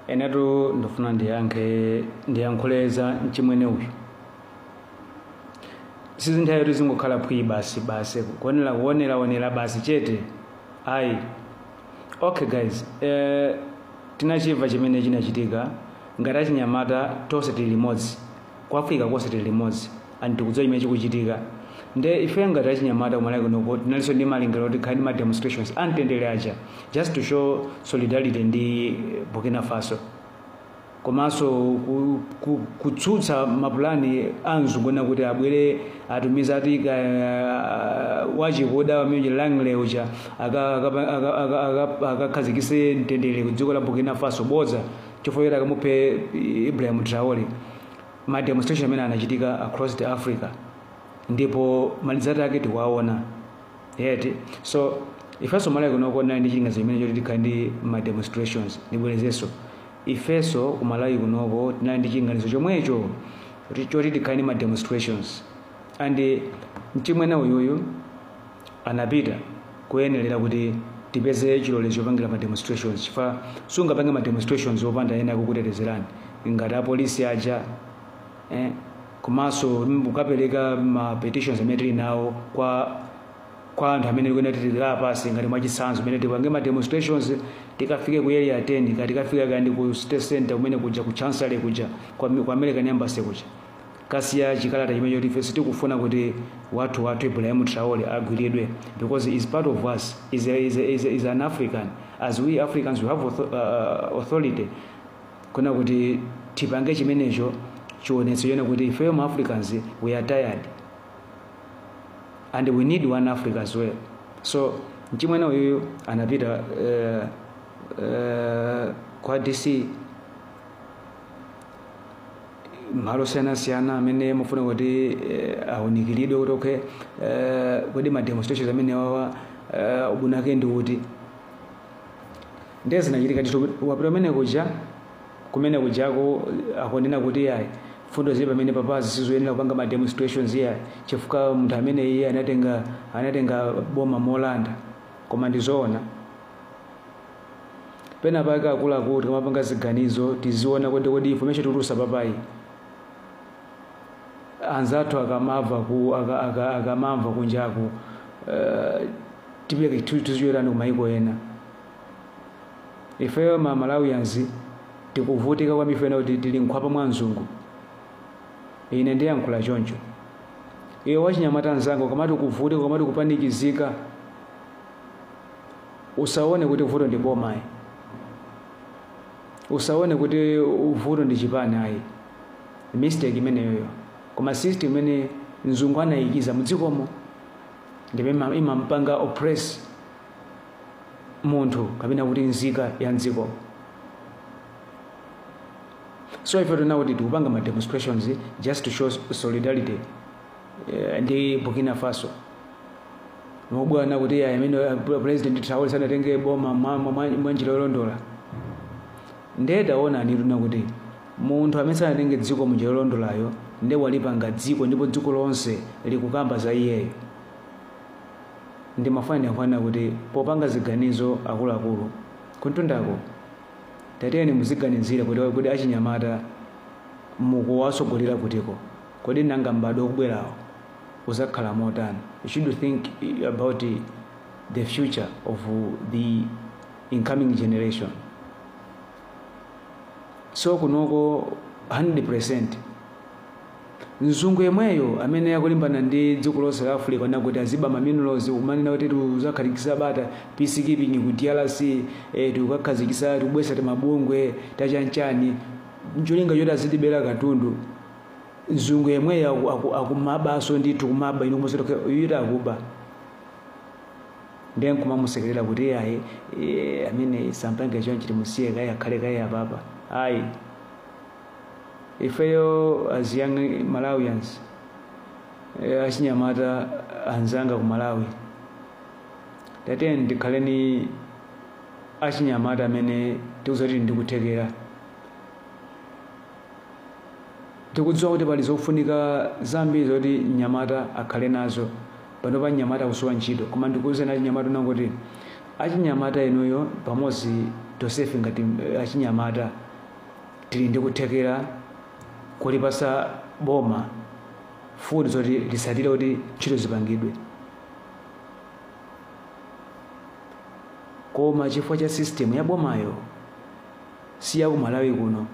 enetu ndifuna ndiyankhe ndiyankhule za mchimwene uyu sizinthawi kuti zingokhala phwii basi basi kuonera kuoneraonera basi chete ayi okay guys eh, tinachimva chimene chinachitika ngati achinyamata tonse tili limodzi ku africa konse tili limodzi and tikudziwa chimene chikuchitika nde ife ngati achinyamata kumalawi kunoko tinalinso ndi malingaliro oti tikhale ndi ma demonstrations amtendere aja just to show solidarity ndi eh, burkina faso komanso ku- ku- kutsutsa mapulani a mzungu wina kuti abwere atumiza ati ka- wachikuda wamene Langley uja aka- aka- aka- aka- aka- akakhazikise mtendere ku dziko la burkina faso bodza chifukwa choti akamuphe ibrahim traore ma demonstration amene anachitika across the africa ndipo ma result ake tikuwaona yeti so ifenso kumalawi kunoko tinali ndi chilinganizo chimene choti tikhale ndi ma demonstrations ndibwerezenso ifenso ku malawi kunoko tinali ndi chilinganizo chomwecho choti- choti tikhale ndi ma demonstrations and mchimwene uyuyu anapita kuyenderera kuti tipeze chilolezo chopangira ma demonstrations chifa sungapange ma demonstrations opanda ena kukutetezerani ngati apolisi aja eh, komanso kukapereka ma petitions amene tili nawo kwa kwa anthu amene tikuyenera titilira pasi ngati mwachitsanzo amene tipange ma demonstrations tikafike ku area 10 kaya tikafika kandi ku city center kumene kuja ku chancellor kuja kwa, kwa american embassy kuja Kasiya chikalata chimene choti ife sitikufuna kuti wathu wathu Ibrahim Traore agwiridwe because is part of us is, a, is, a, is, a, is an African as we Africans we have author, uh, authority kuna kuti tipange chimenecho tionetse chabe kuti ifeyo ma Africans we are tired and we need one Africa as well so mchimwene uyuyu anapita uh, uh, kwa DC malo osiyanasiyana amene amafuna kuti eh, aunikiridwe kuti okay eh, kodi ma demonstrations amenewawa eh, ubwino wake ndi uti ndiye zinachitika ndithu wapita kumene kuja kumene kujako akunena kuti ayi mfundo zili pamenepapa sizoyenera kupanga ma demonstrations iyayi chifukwa munthu amene iye anatenga anatenga boma molanda koma ndizoona pena pake akuluakulu tikamapanga ziganizo tiziona kuti kodi information tikutulusa apayi anzathu akamava ku aka- aka- akamamva kunjaku eh, tipeka tizitchukiranji ku maiko ena ifeyo ma malawians tikuvutika kwambiri chifukwa kuti tili nkhwapa mwa mzungu ine ndiyankhula choncho iwe wachinyamata mnzanga ukamati ukuvutika ukamati ukupanikizika Usaone kuti vuto ndi boma ayi. Usaone kuti vuto ndi chipani ayi. Mistake imeneyoyo. Koma system imene mzungu anayikiza mudzikomo ndipo ima- imampanga oppress munthu kapena kuti nzika ya mdzikomo. So ife tinaona kuti tikupanga ma demonstrations just to show solidarity eh, ndi Burkina Faso mukuona kuti ayi amene eh, pre- president Traore sanatenge boma mwa- mwa- mwa mwa njira yolondola ndiye taonani tione kuti munthu amene sanatenge dziko munjira yolondolayo ndiye walipanga dziko ndipo dziko lonse likukamba za iyeyo ndimafuna kunena kuti popanga ziganizo akuluakulu kuntundako tatiyeni muziganizira kuti kuti achinyamata mukuwatsogolera kutiko Kodi nanga m'badwo ukubwerawo uzakhala motani? You should think about the future of the incoming generation. So kunoko 100% mzungu yemweyo amene akulimbana ndi dziko lonse la africa ndi kuti aziba maminerals kumanena kuti tikuzakhazikisa bata peacekeeping ku drc eh, tikukakhazikisa tikubwesa timabungwe tachanchani ncholinga choti azitibera katundu mzungu yemweyo aku- aku- akumabanso ndithu kumaba inu kumuzidwa uyu kuti akuba ndiye nkumamusekerera kuti iye ayi iye amene sampange chonchi timusiye kaye akhale kaye apapa ayi ifeyo as young malawians eh, achinyamata anzanga ku malawi tatiyeni tikhale ndi achinyamata amene tili ndikuthekera Tikudziwa kuti pali zofunika zambiri zoti mnyamata akhale nazo. Panopa mnyamata akusowa ntchito, koma ndikuuzeni achinyamata ena kuti achinyamata inuyo pamodzi tonsefe ngati achinyamata tili ndi kuthekera kolipasa boma mfundo zoti lisatire kuti ntchito zipangidwe. Koma chifukwa cha system ya bomayo. si ya ku malawi kuno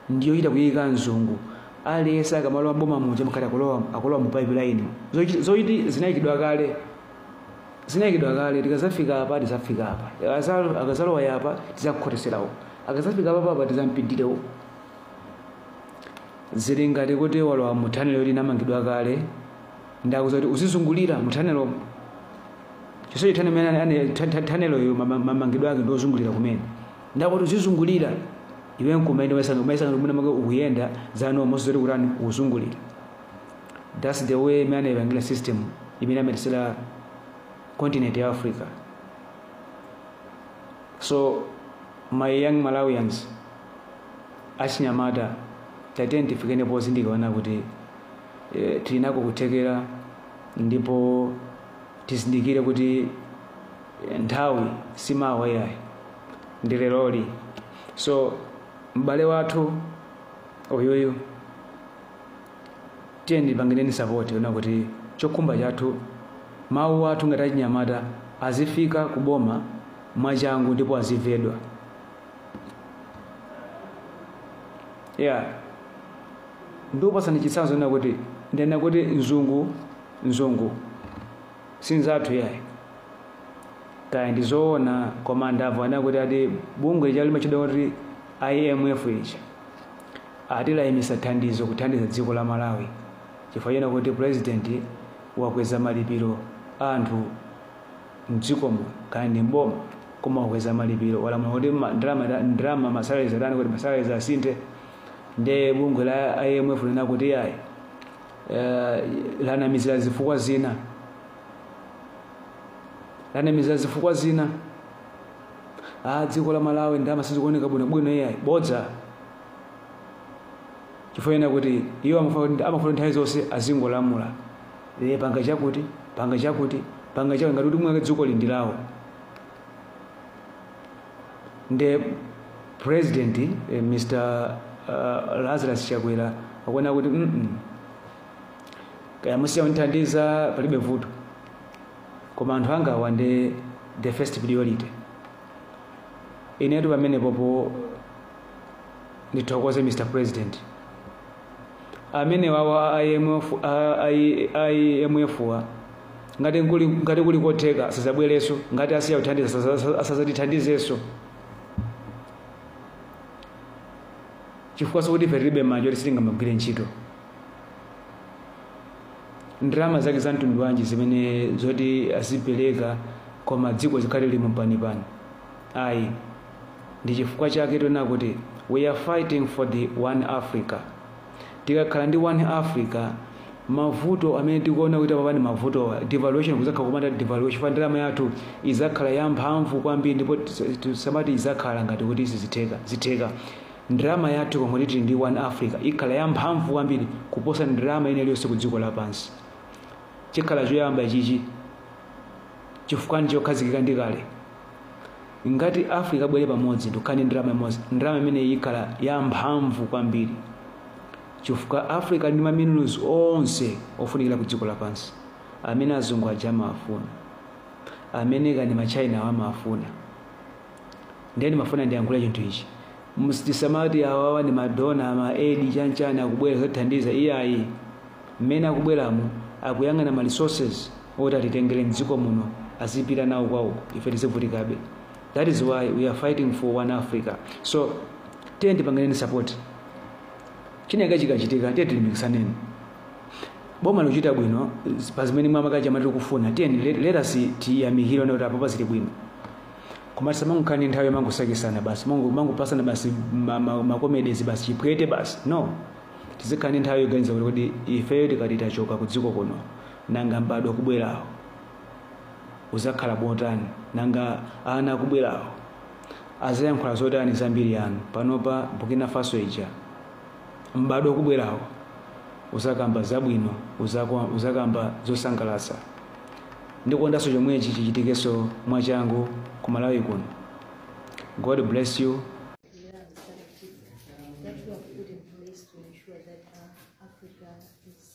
ndi yochita kuyika mzungu aliyense akamalowa mboma muja mkati akulowa akulowa mu pipe line Zochi- zochiti zinayikidwa kale zinayikidwa kale tikazafika apa tizafika apa Akaza- akazalowa apa tizakukhotesera uko akazafika apa papa tizampindire uko zili ngati kuti walowa mu thanelo yoti inamangidwa kale ndi yakuti uzizungulira mu thanelo chisechi thanelo imeneyo mamangidwe ake ndiozungulira kumene ndakuti uzizungulira iwe nkumaenda umayesanga umayesanga mwina mwake ukuyenda zaona osadziwa zoti ukutani ukuzungulira that's the way imene anaipangira system imene amenyetsera continent ya africa so my young malawians achinyamata tatiyeni tifike pozindikira kuti eh, tili nako kuthekera ndipo tizindikire kuti nthawi si mawa iyayi ndi leroli so m'bale wathu uyuyu tiyeni timpangireni support yonena kuti chokhumba chathu mawu athu ngati achinyamata azifika ku boma mwachangu ndipo azimvedwa ya ndikupasani chitsanzo chonena kuti ndinena kuti mzungu mzungu sinzathu yayi kaya ndi zoona koma ndamva akunena kuti ati bungwe lija limatchedwa kuti imf ichi ati layimisa thandizo kuthandiza dziko la malawi chifukwa chonena kuti president wakweza malipiro a anthu mdzikomo kaya ndi mboma koma wakweza malipiro walamula kuti ma- ndalama ndalama masalaries atani kuti masalaries asinthe nde bungwe la imf linati yayi eh, lanamizira zifukwa zina lanamizira zifukwa zina a ah, dziko la malawi ndalama sizikuoneka bwinobwino iyayi bodza chifukwa chonena kuti iwo amafuna nthawi zonse azingolamula e, panga chakuti panga chakuti panga chakuti ngati kuti mwina mwake dziko ili ndi lawo nde president eh, mr uh, lazarus chakwera akunena kuti mm -mm. kaya musiya kundithandiza palibe vuto koma anthu anga awa ndi the first priority inetu pamenepopo ndithokoze mr president amene wawa a IMF a- a- a IMF wa ngati kuli ngati kuli kotheka asazabwereso ngati asiya kuthandiza asaza- asaza- asazatithandizeso chifukwa sikuti ife tilibe manja oti sitingamagwire ntchito ndalama zake za mtundu wanji zimene zoti azipereka koma dziko lizikhala lili mu mpanipani ayi Ndichifukwa chake tikunena kuti we are fighting for the one Africa. Tikakhala ndi one Africa mavuto amene tikuona kuti apapa ndi mavuto a devaluation kuzakhala kumatha devaluation chifukwa ndalama yathu izakhala yamphamvu kwambiri ndipo tisamati izakhala ngati kuti sizitheka zitheka ndalama yathu pomwe tili ndi one africa ikhala yamphamvu kwambiri kuposa ndalama ina iliyonse ku dziko lapansi chikhala choyamba ichichi chifukwa ndi chokhazikika ndi kale Ngati Africa abwere pamodzi ndikukhala ndi ndalama imodzi, ndalama imeneyi ikhala ya mphamvu kwambiri chifukwa Africa ili ndi maminerals onse ofunikira ku dziko lapansi amene azungu aja amawafuna, amene kani machina awo amawafuna. Ndiye ndimafuna ndiyankhule chinthu ichi tisamati awawa ndi madona ama aid chanchani akubwera kuthandiza iyayi mmene akubweramo akuyang'ana ma resources oti atitengele mdziko muno azipita nawo kwawo ife tizivutikabe that is why we are fighting for one africa so tiye tipangireni support chinake chikachitika tiye tilimbikitsaneni boma likuchita bwino pa zimene mwa ma Gen Z amati tikufuna tiye let us tiyamikire kuti apo pazili bwino koma tisamangokhala nthawi yomangosakisana basi mango- mangopasana basi ma- ma- makomedezi basi chipwete basi no tizikhala ndi nthawi yoganiza kuti kodi ifeyo tikati tachoka ku dziko kuno Nanga m'badwo ukubwerawo uzakhala motani? Nanga ana akubwerawo azayankhula zotani za mbiri yanu? Panopa Burkina Faso ija, m'badwo ukubwerawo uzakamba zabwino, uzakwa- uzakamba zosangalatsa. Ndikondanso chomwechi chichitikenso mwachangu ku Malawi kuno. God bless you. That we have put in place to ensure that uh, Africa is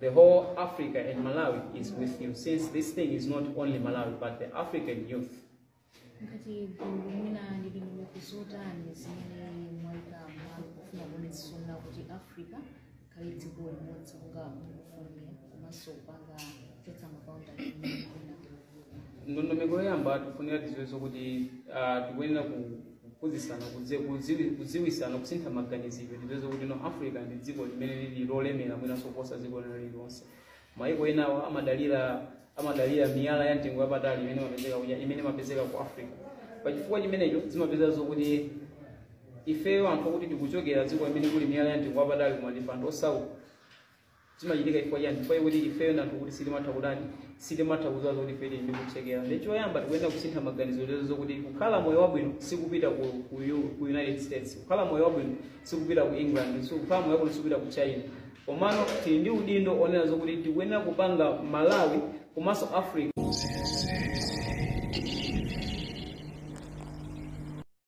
The whole Africa and Malawi is with you, since this thing is not only Malawi, but the African youth. ngati gulu mwina muli ndi mfundo zotani zimene mwaika m'malo pofuna kuonetsetsa kuti africa ikhale dziko limodzi monga mukufunira komanso kupanga kuchotsa ma boundary amene mwina ndondomeko yoyamba tikufunira tiziwenso kuti ah, tikuyenera ku- kuphunzitsana kuzi- kuziwi- kuziwisana kusintha maganizidwe tiziwenso kuti no africa ndi dziko limene lili lolemera mwinanso kuposa dziko lina lililonse maiko enawa amadalira amadalira miyala ya mtengo wapatali imene imapezeka kuja- imene imapezeka ku africa pachifukwa chimenecho timapeza zokuti ifeyo anthu okuti tikuchokera dziko limene kuli miyala ya mtengo wapatali koma ndife anthu osauka zimachitika chifukwa chani chifukwa chokuti ifeyo ndi anthu okuti sitimatha kutani sitimatha kudziwa zoti ife tili ndi kuthekera ndiye choyamba tikuyenera kusintha maganizo onena zokuti kukhala moyo wabwino sikupita ku, ku, U- ku united states kukhala moyo wabwino sikupita ku england si- kukhala moyo wabwino sikupita ku china komano tili ndi udindo onena zokuti tikuyenera kupanga malawi komanso africa